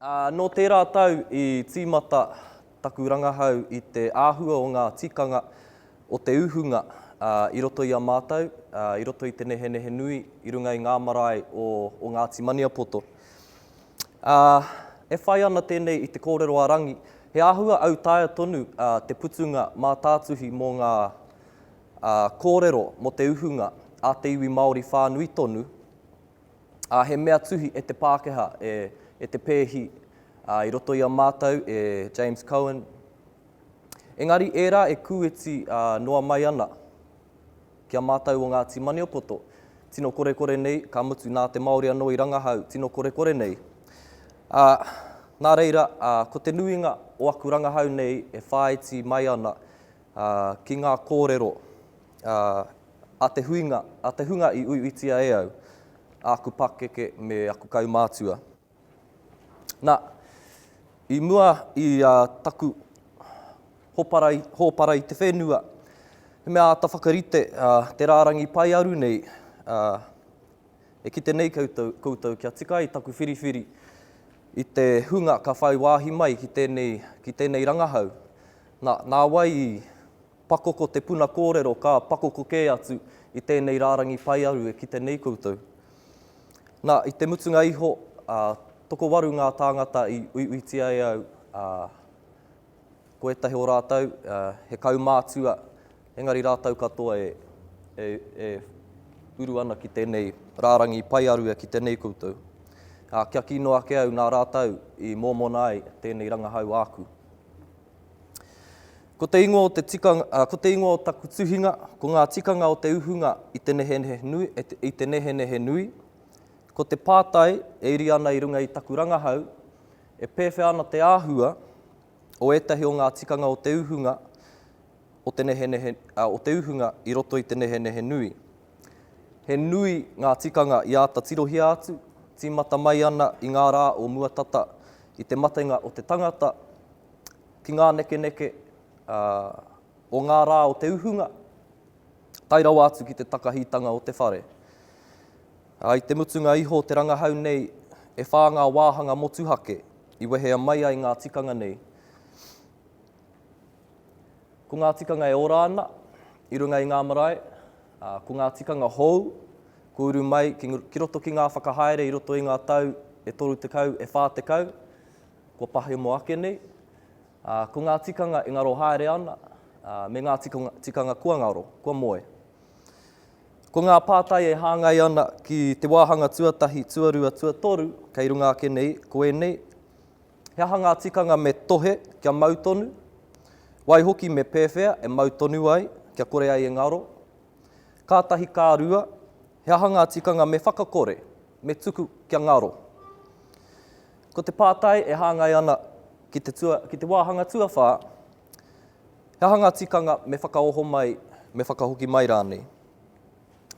Nō tērā tau i tīmata taku rangahau i te āhua o ngā tikanga o te uhunga i roto i a mātou, i roto i te nehenehe nui i runga i ngā marae o Ngāti Maniapoto. Ā, e whai ana tēnei i te kōrero a Rangi, he āhua autaia tonu te putunga mātātuhi mō ngā kōrero mō te uhunga a te iwi Māori whānui tonu, ā, he mea tuhi e te Pākehā, e Te Pēhi, ā, i roto i a mātou e James Cohen. Engari ērā e kūiti noa mai ana. Ki a mātou o Ngāti Maniapoto, tino korekore nei, ka mutu nā te Māori anō i rangahau, tino korekore nei. Ā, nā reira, ā, ko te nuinga o aku rangahau nei e whāiti mai ana, ā, ki ngā kōrero, ā, a te huinga, a te hunga i uiuitia e au, āku pakeke me aku kaumātua. Na, i mua i a taku hopara i te whenua, he mea ata whakarite te rarangi paearu nei, e kite nei koutou kia tika ai taku whiriwhiri i te hunga ka whai waahi mai ki tenei rangahau. Na, na wai i Pakoko te puna kōrero ka pakoko kē atu i tēnei rārangi paearu e kite nei koutou. Nā, i te mutunga iho, ā, tokowaru ngā tāngata i uiuitia e au, ā, ko ētahi o rātou, ā, he kaumātua, engari rātou katoa e, e, e uru ana ki tēnei rārangi paearu e kite nei koutou. Ā, kia kī noa ake au nā rātou i mōmona ai tēnei rangahau āku. Ko te ingoa o te tikanga, ko te ingoa o taku tuhinga, ko ngā tikanga o te uhunga i te nehenehe nui, i te nehenehe nui. Ko te pātai e iri ana i runga i taku rangahau, e pēwhea ana te āhua o ētahi o ngā tikanga o te uhunga o te nehenehe, o te uhunga i roto i te nehenehe nui. He nui ngā tikanga i āta tirohia atu, tīmata mai ana i ngā rā o mua tata i te matenga o te tangata, ki ngā nekeneke o ngā rā o te uhunga, tae rawa atu ki te takahitanga o te whare. I te mutunga iho o te rangahau nei, e whā ngā wāhanga motuhake i wehea mai ai ngā tikanga nei. Ko ngā tikanga e ora ana i runga i ngā marae, ko ngā tikanga hou, ko uru mai ki roto ki ngā whakahaere i roto i ngā tau e 30, e 40, Kua pahemo ake nei, ā, ko ngā tikanga e ngaro haere ana, ā, me ngā tikanga kua ngaro, kua moe. Ko ngā pātai e hāngai ana ki te wāhanga tuatahi, tuarua, tuatoru, kei runga ake nei, ko ēnei, He aha ngā tikanga me tohe kia mau tonu? Waihoki me pēwhea e mau tonu ai, kia kore ai e ngaro? Kātahi ka rua, He aha ngā tikanga me whakakore, me tuku kia ngaro? Ko te pātai e hāngai ana ki te tua, ki te wāhanga tuawhā, he aha ngā tikanga me whakaoho mai, me whakahoki mai rānei?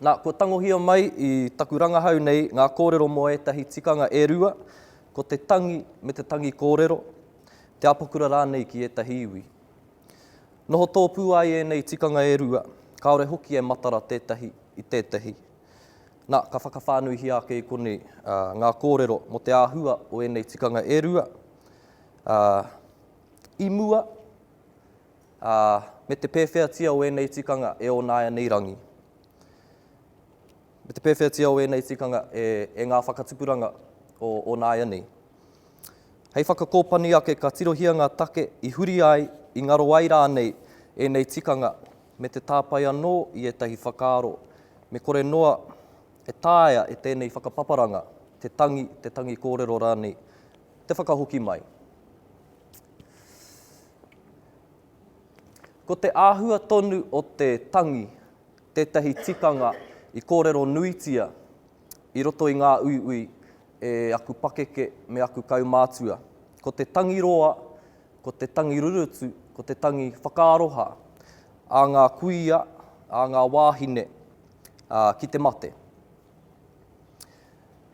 Nā, kua tangohia mai i taku rangahau nei ngā kōrero mō ētahi tikanga e rua, ko te tangi me te tangi kōrero, te apakura rānei ki ētahi iwi. Noho tōpū ai ēnei tikanga e rua, kāore hoki e matara tētahi i tētahi. Nā, ka whakawhānuihia ake i konei ngā kōrero mō te āhua o ēnei tikanga e rua, ā, i mua, ā, me te pēwheatia o ēnei tikanga e onāianei rangi, me te pēwheatia o ēnei tikanga e, e ngā whakatupuranga o onāianei. Hei whakakōpani ake ka tirohia ngā take i huri ai, i ngaro ai rānei ēnei tikanga me te tāpae anō i ētahi whakaaro me kore noa e taea e tēnei whakapaparanga te tangi, te tangi kōrero rānei, te whakahoki mai. Ko te āhua tonu o te tangi tētahi tikanga i kōrero nuitia i roto i ngā uiui e aku pakeke me aku kaumātua. Ko te tangi roa Ko te tangi rurutu, ko te tangi whakaaroha a ngā kuia, a ngā wāhine ki te mate.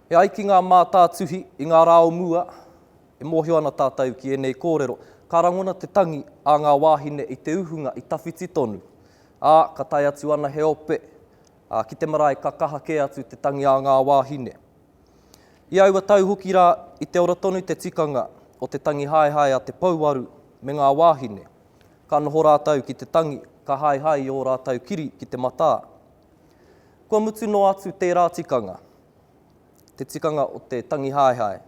E ai ki ngā mātātuhi i ngā rā o mua, e mōhio ana tātou ki ēnei kōrero, ka rangona te tangi a ngā wāhine i te uhunga i tawhiti tonu, ā, ka tae atu ana he ope ki te marae ka kaha kē atu te tangi a ngā wāhine. I aua tau hoki rā, i te ora tonu te tikanga o te tangi haehae a te pouaru me ngā wāhine. Ka noho rātou ki te tangi, ka haehae i ō rātou kiri ki te matā. Kua mutu noa atu tērā tikanga, te tikanga o te tangi haehae,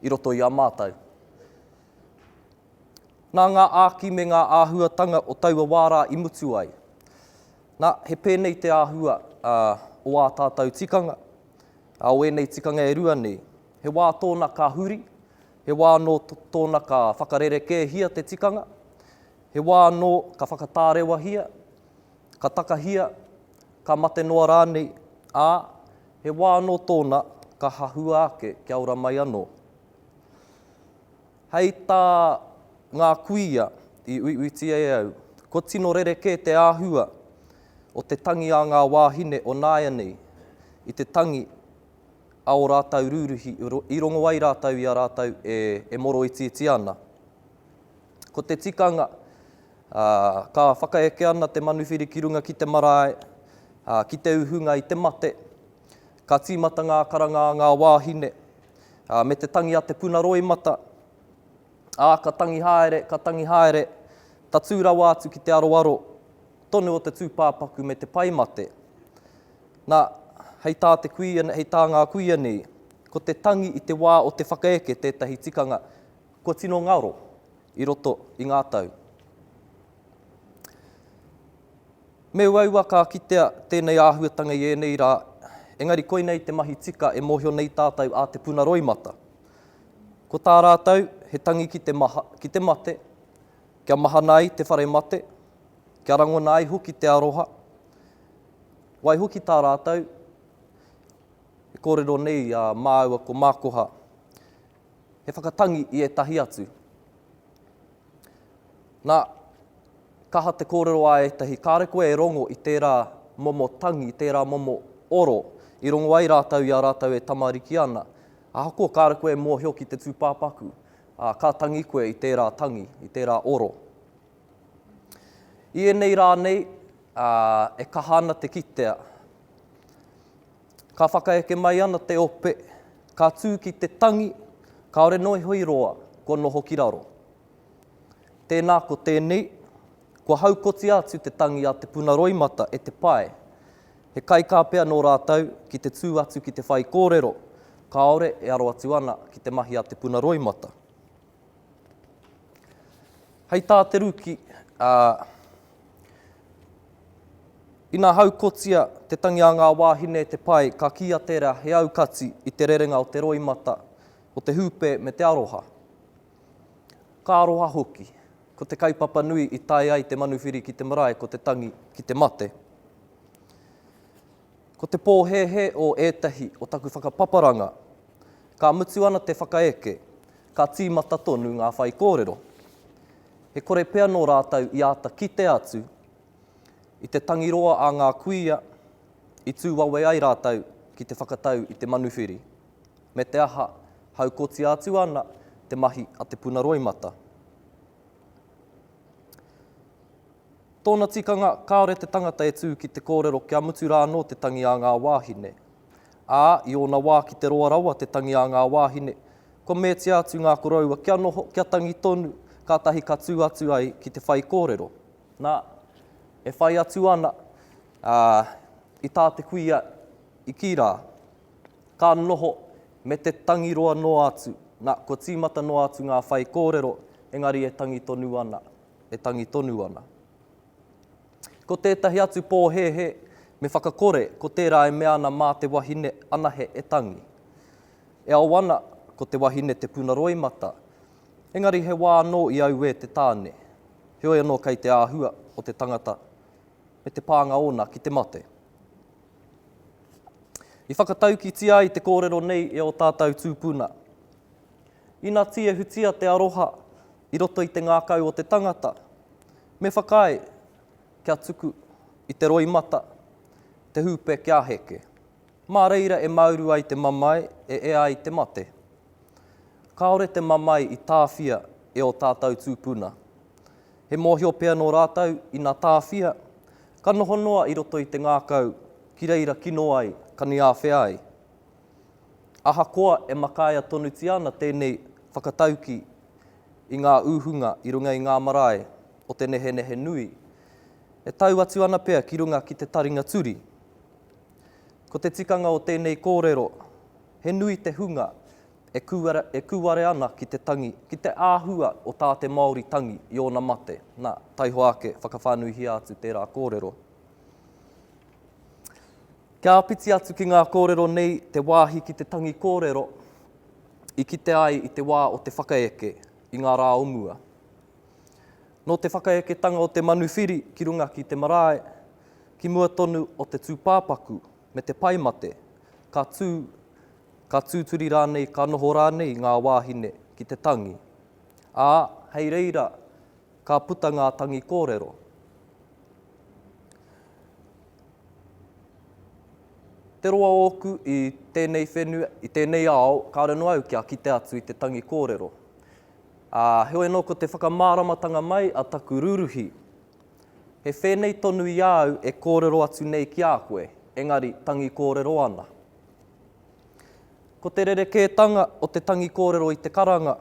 i roto i a mātou. Nā ngā āki me ngā āhuatanga o taua wā rā i mutu ai. Nā, he pēnei te āhua o ā tātou tikanga, Ā wēnei tikanga e rua nei, he wā tōna ka huri, he wā anō tōna ka whakarerekēhia te tikanga, he wā anō ka whakatārewahia, ka takahia, ka mate noa rānei, ā, he wā anō tōna ka hahua ake kia ora mai anō. Hei tā ngā kuia i uiuitia e au, kua tino rerekē te āhua o te tangi a ngā wāhine o nāianei, i te tangi a ō rātou rūruhi i rongo ai rātou i a rātou e moroitiiti ana. Ko te tikanga, ka whakaeke ana te manuwhiri ki runga ki te marae, ki te uhunga i te mate, ka tīmata ngā karanga a ngā wāhine, me te tangi a te puna roimata, ā, ka tangi haere, ka tangi haere, tatū rawa atu ki te aroaro. tonu o te tūpāpaku me te pai mate. Nā, hei tā, te kuia, hei tā ngā kuia nei, ko te tangi i te wā o te whakaeke tētahi tikanga kua tino ngaro i roto i ngā tau. Me uaua ka kitea tēnei āhuatanga i ēnei rā, engari koinei te mahi tika e mōhio nei tātou a Te Puna Roimata. Ko tā rātou, he tangi ki te maha, ki te mate, kia mahana ai te whare mate, Kia rangona ai hoki te aroha. Waihoki tā rātou e kōrero nei i a māua ko Mākoha, he whakatangi i ētahi atu. Nā, ka aha te kōrero a ētahi, kāre koe e rongo i tērā momo tangi, i tērā momo oro, i rongo ai rātou i a rātou e tamariki ana. Ahakoa kāre koe e mōhio ki te tūpāpaku, ā, ka tangi koe i tērā tangi, i tērā oro. I ēnei rā nei, e kaha ana te kitea, ka whakaeke mai ana te ope, ka tū ki te tangi, kāore noa iho i roa, kua noho ki raro. Tēnā ko tēnei, kua haukotia atu te tangi a Te Puna Roimata e te pae, he kaikā pea nō rātou ki te tū atu ki te whaikōrero, kāore e aro atu ana ki te mahi a Te Puna Roimata. Hei tā Te Ruki, ā, Ina haukotia te tangi a ngā wāhine e te pae, ka kīia tērā he aukati i te rerenga o te roimata, o te hūpē me te aroha. Ka aroha hoki. Ko te kaupapa nui i tae ai te manuwhiri ki te marae ko te tangi ki te mate. Ko te pōhēhē o ētahi o taku whakapaparanga, ka mutu ana te whakaeke, ka tīmata tonu ngā whaikōrero. He kore pea nō rātou i āta kite atu i te tangi roa a ngā kuia i tū wawe ai rātou ki te whakatau i te manuwhiri, me te aha, haukotia atu ana te mahi a te puna roimata. Tōna tikanga, kāore te tangata e tū ki te kōrero kia mutu rā anō te tangi a ngā wāhine. Ā, i ōna wā ki te roa rawa te tangi a ngā wāhine, kua meatia atu ngā koroua kia noho, kia tangi tonu, kātahi ka tū atu ai ki te whaikōrero. Nā, e whai atu ana, ā, i tā te kuia i kī rā, ka noho me te tangi roa noa atu, nā, kua tīmata noa atu ngā whaikōrero, engari e tangi tonu ana. e tangi tonu ana. Ko tētahi atu pōhēhē, me whakakore ko tērā e mea ana mā te wahine anahe e tangi. E ao ana, ko te wahine te puna roimata, engari he wā anō i auē te tāne, heoi anō kei te āhua o te tangata me te pānga ōna ki te mate. I whakataukitia ai te kōrero nei e ō tātou tūpuna. Ina tiehutia te aroha i roto i te ngākau o te tangata, me whakaae kia tuku i te roimata te hūpe kia heke, mā reira e māuru ai te mamae e ea ai te mate. Kāore te mamae i tāwhia e ō tātou tūpuna. He mōhio pea nō rātou ina tāwhia, ka noho noa i roto i te ngākau ki reira kino ai ka niāwhea ai. Ahakoa e makaia tonutia ana tēnei whakatauki i ngā ūhunga i runga i ngā marae o te nehenehe nui, e tau atu ana pea ki runga ki te taringa turi. Ko te tikanga o tēnei kōrero, he nui te hunga e kūare, e kūare ana ki te tangi, ki te āhua o tā te Māori tangi i ōna mate. Nā, taihoa ake, whakawhānuihia atu tērā kōrero. Kia āpiti atu ki ngā kōrero nei te wāhi ki te tangi kōrero i kite ai i te wā o te whakaeke i ngā rā o mua. Nō te whakaeketanga o te manuwhiri ki runga ki te marae, ki mua tonu o te tūpāpaku me te pae mate, ka tū, ka tūturi rānei, ka noho rānei ngā wāhine ki te tangi. Ā, hei reira, Ka puta ngā tangi kōrero. Te roa ōku i tēnei whenua, i tēnei ao, kāore noa au kia kite atu i te tangi kōrero. Ā, heoi anō ko te whakamāramatanga mai a taku rūruhi, he whēnei tonu i a au e kōrero atu nei ki a koe, engari tangi kōrero ana. Ko te rerekētanga o te tangi kōrero i te karanga,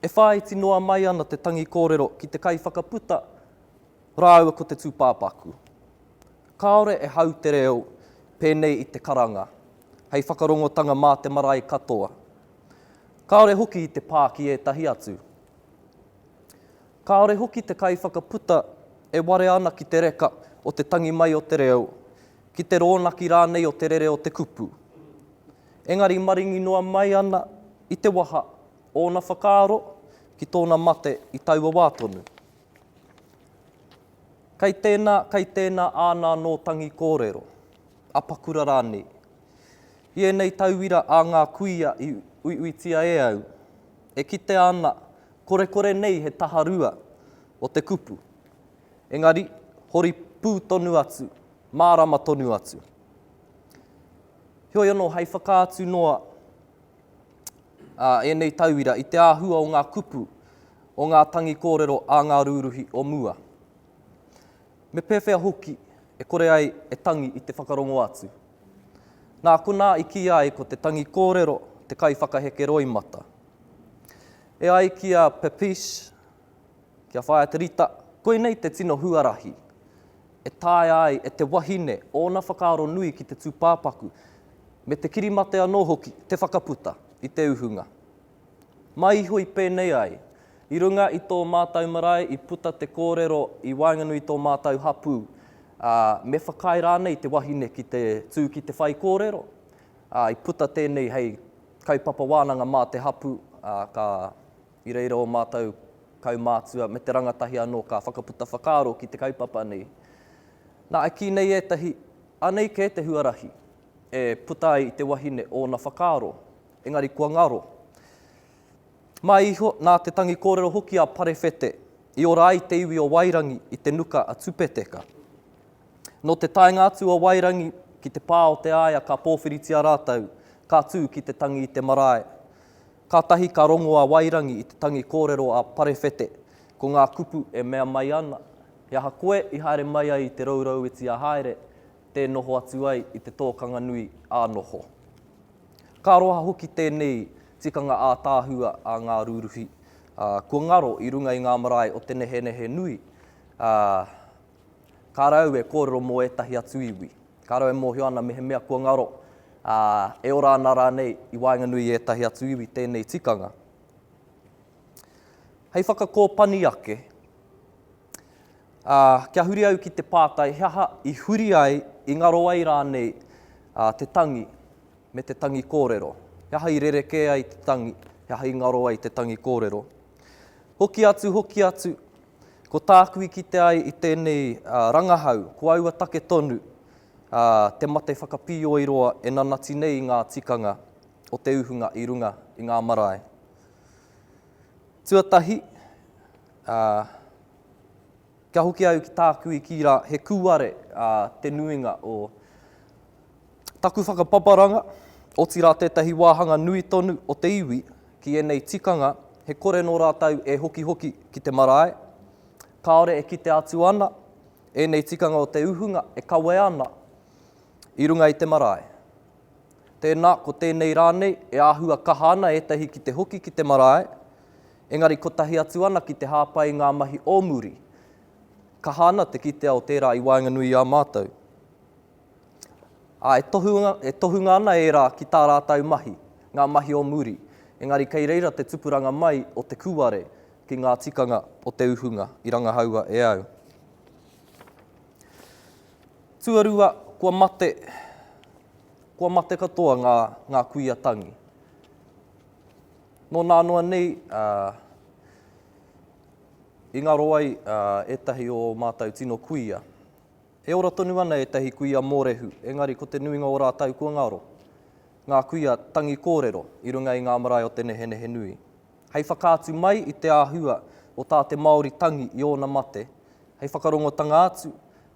E whāiti noa mai ana te tangi kōrero ki te kaiwhakaputa rāua ko te tūpāpaku. Kāore e hau te reo pēnei i te karanga hei whakarongotanga mā te marae katoa. Kāore hoki i te pā ki ētahi atu. Kāore hoki te kaiwhakaputa e warea ana ki te reka o te tangi mai o te reo, ki te rōnaki rānei o te rere o te kupu. Engari maringi noa mai ana i te waha Ōna whakaaro ki tōna mate i taua wā tonu. Kei tēnā, kei tēnā āna anō tangi kōrero, apakura rānei. I ēnei tauira a ngā kuia i uiuitia e au, e kitea ana korekore nei he taha rua o te kupu. Engari, hori pū tonu atu, mārama tonu atu. Heoi anō, hei whakaatu noa ā ēnei tauira i te āhua o ngā kupu, o ngā tangi kōrero a ngā rūruhi o mua. Me pēwhea hoki e kore ai e tangi i te whakarongo atu? Nā konā i kīia ai ko te tangi kōrero te kaiwhakaheke roimata. E ai ki a Papiche, Kia whaia te rita, koinei te tino huarahi e taea ai e te wahine ōna whakaaro nui ki te tūpāpaku, me te kirimate anō hoki, te whakaputa i te uhunga. Mai iho i pēnei ai, i runga i tō mātau marae i puta te kōrero i waenganui i tō mātau hapū, ā, me whakaae rānei te wahine ki te tū ki te whaikōrero, ā, i puta tēnei hei kaupapa wānanga mā te hapū, ā, ka. I reira ō mātou kaumātua me te rangatahi anō ka whakaputa whakaaro ki te kaupapa nei. Nā, e kī nei ētahi, anei kē te huarahi e puta ai i te wahine ōna whakaaro, engari kua ngaro. Mai iho, nā te tangi kōrero hoki a Parewhete i ora ai te iwi o Wairangi i te nuka a Tupeteka. Nō te taenga atu o Wairangi ki te pā o Te Aea ka pōwhiritia rātou, ka tū ki te tangi i te marae. Kātahi ka rongo a Wairangi i te tangi kōrero a Parewhete, ko ngā kupu e mea mai ana, He aha koe i haere mai ai i te rourou iti a Haere, tē noho atu ai i te tōkanga nui ā noho. Ka aroha hoki tēnei tikanga ātaahua a ngā rūruhi, ā, kua ngaro i runga i ngā marae o te nehenehe nui, ā, ka rau e kōrero mō ētahi atu iwi. Ka rawe e mōhio ana mehemea kua ngaro, ā, e ora ana rānei i waenganui i ētahi atu iwi tēnei tikanga. Hei whakakōpani ake, ā, kia huri au ki te pātai he aha i huri ai, i ngaro ai rānei te tangi me te tangi kōrero? He aha i rerekē ai te tangi, he aha i ngaro ai te tangi kōrero? Hoki atu, hoki atu, Ko tāku i kite ai i tēnei rangahau, ko aua take tonu, te mate whakapīoiroa e nanati nei i ngā tikanga o te uhunga i runga i ngā marae. Tuatahi, kia hoki au ki tāku i kī rā, he kūare te nuinga o Taku whakapaparanga, otirā tētahi wāhanga nui tonu o te iwi ki ēnei tikanga he kore nō rātou e hokihoki ki te marae, kāore e kite atu ana ēnei tikanga o te uhunga e kawe ana i runga i te marae. Tēnā, ko tēnei rānei e āhua kaha ana ētahi ki te hoki ki te marae, engari kotahi atu ana ki te hāpai i ngā mahi o muri. Kaha ana te kitea o tērā i waenganui i a mātou. ā, e tohunga, e tohunga ana ērā ki tā rātou mahi, ngā mahi o muri, engari kei reira te tupuranga mai o te kūare ki ngā tikanga o te uhunga i rangahaua e au. Tuarua, kua mate, kua mate katoa ngā, ngā kuia tangi. Nō nā noa nei, ā, i ngaro ai, ā, ētahi o ō mātou tino kuia. E ora tonu ana ētahi kuia mōrehu, engari ko te nuinga o rātou kua ngaro, ngā kuia tangi kōrero i runga i ngā marae o te nehenehe nui. Hei whakaatu mai i te āhua o tā te Māori tangi i ōna mate, hei whakarongotanga atu,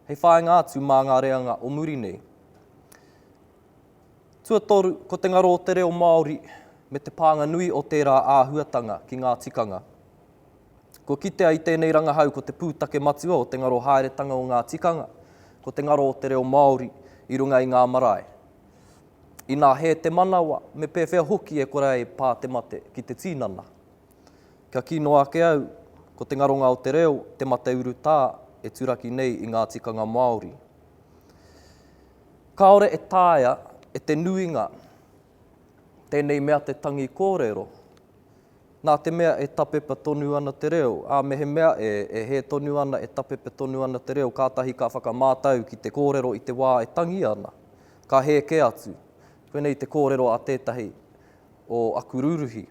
hei whāinga atu mā ngā reanga o muri nei. Tuatoru, ko te ngaro o te reo Māori me te pānga nui o tērā āhuatanga ki ngā tikanga. Kua kitea i tēnei rangahau ko te pūtake matua o te ngaro haeretanga o ngā tikanga, ko te ngaro o te reo Māori i runga i ngā marae. Inā hē te manawa, me pēwhea hoki e kore ai pā te mate ki te tīnana. Kia kī noa ake au, ko te ngaronga o te reo, te mate urutā e turaki nei i ngā tikanga Māori. Kāore e taea e te nuinga tēnei mea te tangi kōrero, Nā te mea e tapepa tonu ana te reo, ā, mehemea e, e hē tonu ana, e tapepa tonu ana te reo, kātahi ka whakamātau ki te kōrero i te wā e tangi ana, ka hē kē atu. Koinei te kōrero a tētahi o aku rūruhi.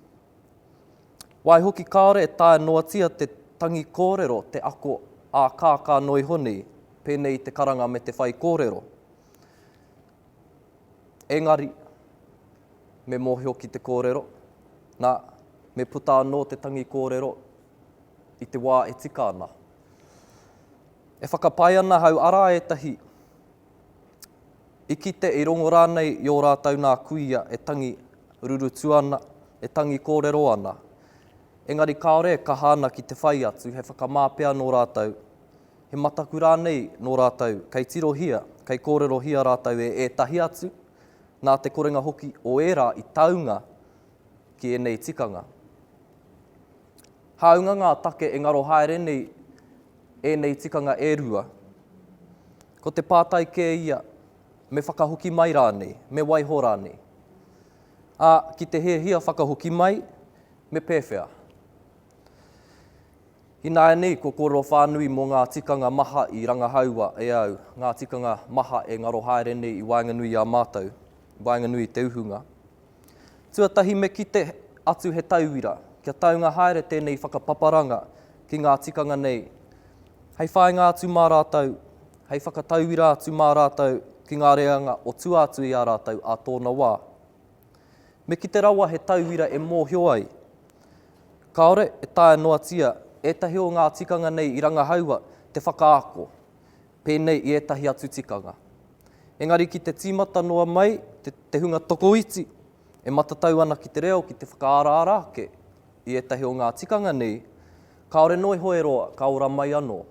Waihoki kāore e taea noatia te tangi kōrero te ako ā-kākā noa iho nei, pēnei i te karanga me te whaikōrero. Engari, me mōhio ki te kōrero, nā, me puta anō te tangi kōrero i te wā e tika ana. E whakapae ana hau arā ētahi i kite, i rongo rānei i ō rātou nā kuia e tangi rurutu ana, e tangi kōrero ana. Engari kāore e kaha ana ki te whai atu he whakamā pea nō rātou he mataku rānei nō rātou kei tirohia, kei kōrerohia rātou e ētahi atu, nā te korenga hoki o ērā i taunga ki ēnei tikanga. Hāunga ngā take e ngaro haere nei ēnei tikanga e rua, ko te pātai kē ia me whakahoki mai rānei, me waiho rānei. Ā, ki te hiahia whakahoki mai, me pēwhea? Ināianei ko kōrero whānui mō ngā tikanga maha i rangahaua e au, ngā tikanga maha e ngaro haere nei i waenganui i a mātou, i waenganui i te uhunga. Tuatahi me kite atu he tauira, kia taunga haere tēnei whakapaparanga ki ngā tikanga nei hei whāinga atu mā rātou, hei whakatauira atu mā rātou ki ngā reanga o tua atu i a rātou ā tōna wā. Me kite rawa he tauira e mōhio ai, kāore e taea noatia ētahi o ngā tikanga nei i rangahaua te whakaako, pēnei i ētahi atu tikanga. Engari ki te tīmata noa mai te hunga tokoiti e matatau ana ki te reo ki te whakaaraara ake i ētahi o ngā tikanga nei, kāore noa iho e roa, ka ora mai anō.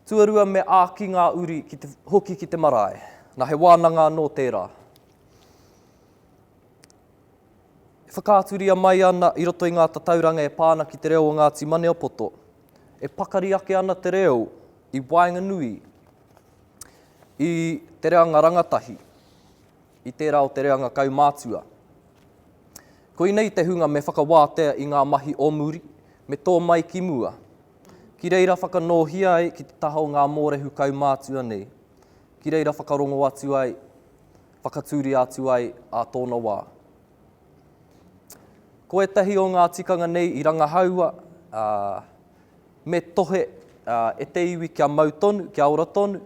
Tuarua me āki ngā uri ki te, hoki ki te marae. Na he wānanga anō tērā. E whakaaturia mai ana i roto i ngā tatauranga e pā ana ki te reo o Ngāti Maniapoto, e pakari ake ana te reo i waenganui i te reanga rangatahi. i tērā o te reanga kaumātua. Koinei te hunga me whakawātea i ngā mahi o muri, me tō mai ki mua. Ki reira whakanōhia ai ki te taha o ngā mōrehu kaumātua nei, ki reira whakarongo atu ai, whakatūria atu ai ā tōna wā. Ko ētahi o ngā tikanga nei i rangahaua, ā, me tohe, ā, e te iwi kia mau tonu, kia ora tonu,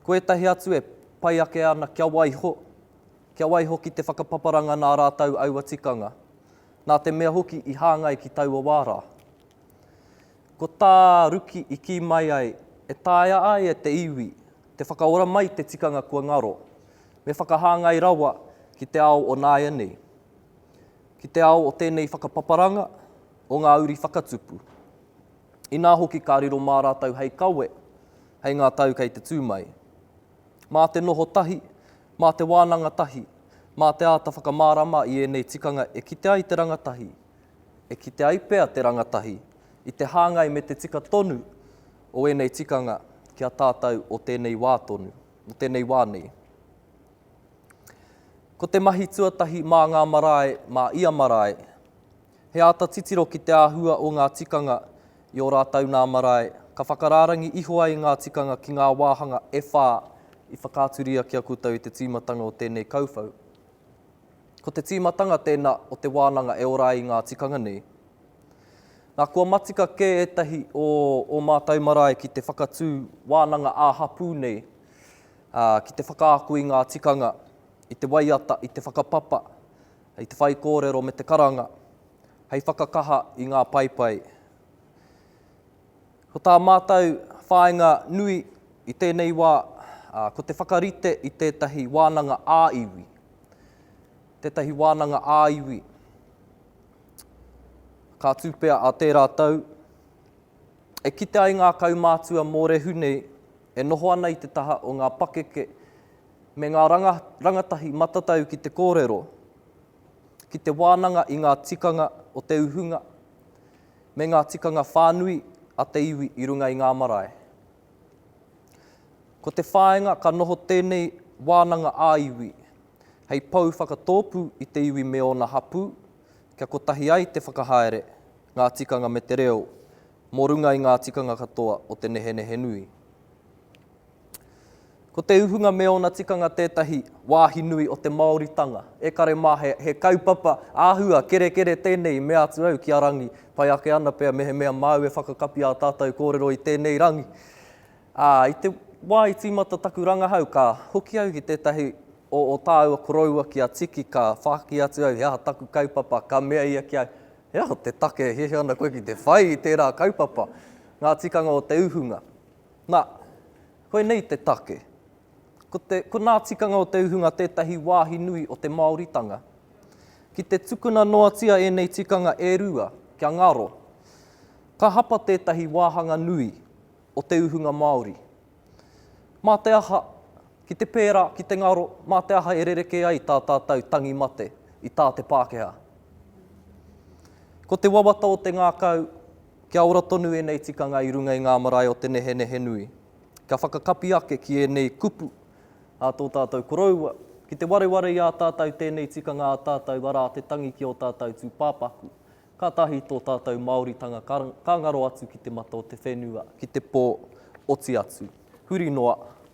Ko ētahi atu e pai ake ana kia waiho, kia waiho ki te whakapaparanga nā rātou aua tikanga, nā te mea hoki i hāngai ki taua wā rā. Ko tā Ruki i kī mai ai, e taea ai e te iwi te whakaora mai te tikanga kua ngaro, me whakahāngai rawa ki te ao o nāianei, ki te ao o tēnei whakapaparanga, o ngā uri whakatupu. inā hoki ka riro mā rātou hei kawe, hei ngā tau kei te tū mai. Mā te noho tahi, mā te wānanga tahi, mā te āta whakamārama i ēnei tikanga e kite ai te rangatahi, e kite ai pea te rangatahi i te hāngai me te tika tonu o ēnei tikanga ki a tātou o tēnei wā tonu, o tēnei wā nei. Ko te mahi tuatahi mā ngā marae, mā ia marae, He āta titiro ki te āhua o ngā tikanga i ō rātou nā marae, ka whakarārangi iho ai ngā tikanga ki ngā wāhanga e whā i whakaaturia ki a koutou i te tīmatanga o tēnei kauwhau. Ko te tīmatanga tēnā o te wānanga e ora ai i ngā tikanga nei. Nā, kua matika kē ētahi o ō mātou marae ki te whakatū wānanga ā-hapū nei, ā, ki te whakaako i ngā tikanga, i te waiata, i te whakapapa, Hei te whaikōrero me te karanga, hei whakakaha i ngā paepae. Ko tā mātou whāinga nui i tēnei wā, ko te whakarite i tētahi wānanga ā-iwi, tētahi wānanga ā-iwi, ka tū pea a tērā tau, e kite ai ngā kaumātua mōrehu nei e noho ana i te taha o ngā pakeke, me ngā rangatahi matatau ki te kōrero, ki te wānanga i ngā tikanga o te uhunga, me ngā tikanga whānui a te iwi i runga i ngā marae. Ko te whāinga ka noho tēnei wānanga ā-iwi hei pou whakatōpū i te iwi me ōna hapū, kia kotahi ai te whakahaere, ngā tikanga me te reo, mō runga i ngā tikanga katoa o te nehenehe nui. Ko te uhunga me ōna tikanga tētahi wāhi nui o te Māoritanga. E kare mā, he, he kaupapa āhua, kerekere tēnei i mea atu au ki a Rangi. Pai ake ana pea mehemea māu e whakakapi ā tātou kōrero i tēnei rangi. Ā, i te wā i tīmata taku rangahau, ka hoki au ki tētahi o, o tāua koroua ki a Tiki, ka whāki atu au he aha taku kaupapa, ka mea ia ki au, He aha te take e hiahia ana koe ki te whai i tērā kaupapa, ngā tikanga o te uhunga? Nā, koinei te take. Ko te, ko ngā tikanga o te uhunga tētahi wāhi nui o te Māoritanga. Ki te tukuna noatia ēnei tikanga e rua, kia ngaro, ka hapa tētahi wāhanga nui o te uhunga Māori. Mā te aha, ki te pērā, ki te ngaro, mā te aha e rerekē ai tā tātou tangi mate i tā te Pākehā? Ko te wawata o te ngākau, Kia ora tonu ēnei tikanga i runga i ngā marae o te nehenehe nui. Kia whakakapi ake ki ēnei kupu a tō tātou koroua, ki te wareware i a tātou tēnei tikanga a tātou arā te tangi ki ō tātou tūpāpaku, kātahi tō tātou Māoritanga ka ngaro atu ki te mata o te whenua, ki te pō, oti atu. Huri noa,